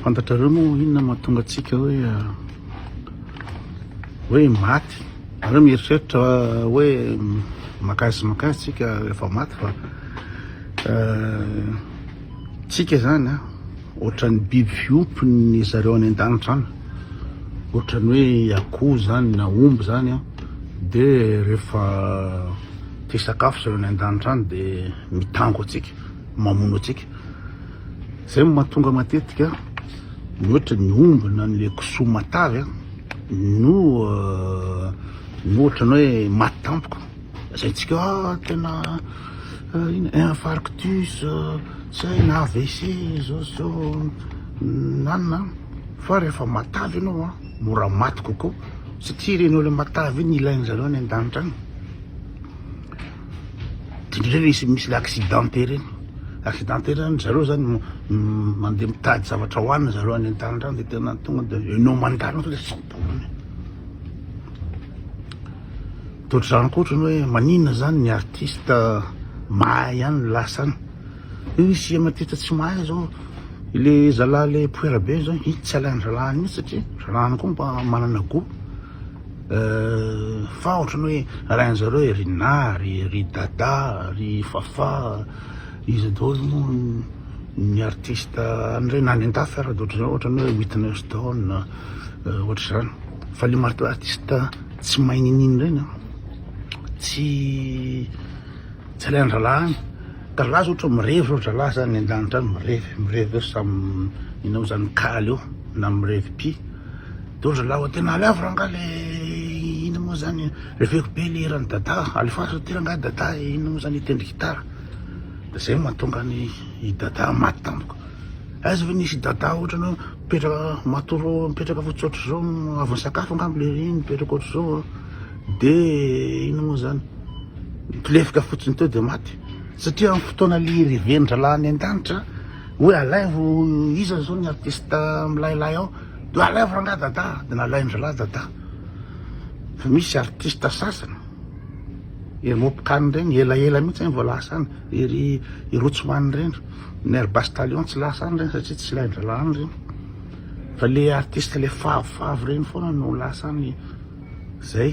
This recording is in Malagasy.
fantatrareo moa inona mahatonga antsika hoe ah, hoe maty areo mieritreritra ah, hoe makasy makasy tsika efa maty fa ah, Tsika zany a, ohatran'ny biby fiompy ny zareo any an-danitra any, ohatran'ny hoe akoho zany na omby zany a, de rehefa te hisakafo zareo any an-danitra any de mitango antsika, mamono antsika, zay no mahatonga matetika ny ohatry ny omby na le kisoa matavy a no no ohatran'ny hoe maty tampoka. Lazaintsika ah, tena ina infarctus, zay na AVC zao zao nanina, fa rehefa matavy ianao a mora maty kokoa satria ireny olona matavy iny ilainy zareo any an-danitra any indrindra misy misy le accidenté ireny accidenté ireny zareo zany mandeha mitady zavatra hohanina zareo any an-danitra any de tena tonga de enao mandalo sao de tsy ho tapony Toa dry zareo koa otrany hoe maninona zany ny artiste mahay ihany no lasa any. Io misy ema tita tsy mahay zao. Ile zalahy le poera be zao iny tsy alain zalahy mihitsy satria zalahy koa mba manana goût. Euh, fa otrany hoe alain zareo e ry Nary, ry Dada, ry Fafà, iza daholo moa ny artiste an'ireny any an-dafy ara otrany hoe Whitney Houston, euh, ohatr'izany. Fa le marto artiste. Tsy mahay ninin reny an, tsy tsy alain dralah any, dralah zao ohatran mirevy zao dralah zany any andanitra any mirevy mirevy eo samy minao zany kaly eo na mirevy pi de ohatry dralah oe tena alefa rangah le ino mo zany reveko be le hiran'i dadah a, alefaso aty rangah dadah e, ino mo zany hitendry gitara, de zay mahatonga any i dadah maty tampoka. Aiza ve nisy Dada ohatrany hoe mipetraka matory mipetraka fotsy ohatr'izao avy nisakafo angamba le reny mipetraka ohatr'izao de inona moa zany nitolefika fotsiny teo de maty satria amin'ny fotoana le reven-dralahy any an-danitra hoe alaivo iza zao ny artiste milailay ao de alaivo rangahy Dada de nalain-dralahy Dada fa misy artiste sasany ery Mopkany reny elaela mihitsy zany vao lasa any ery Rotsman reny Ny air bus talion tsy lasa any reny satria tsy ilain drala any reny fa le artiste le favy favy reny foana no lasa any zay.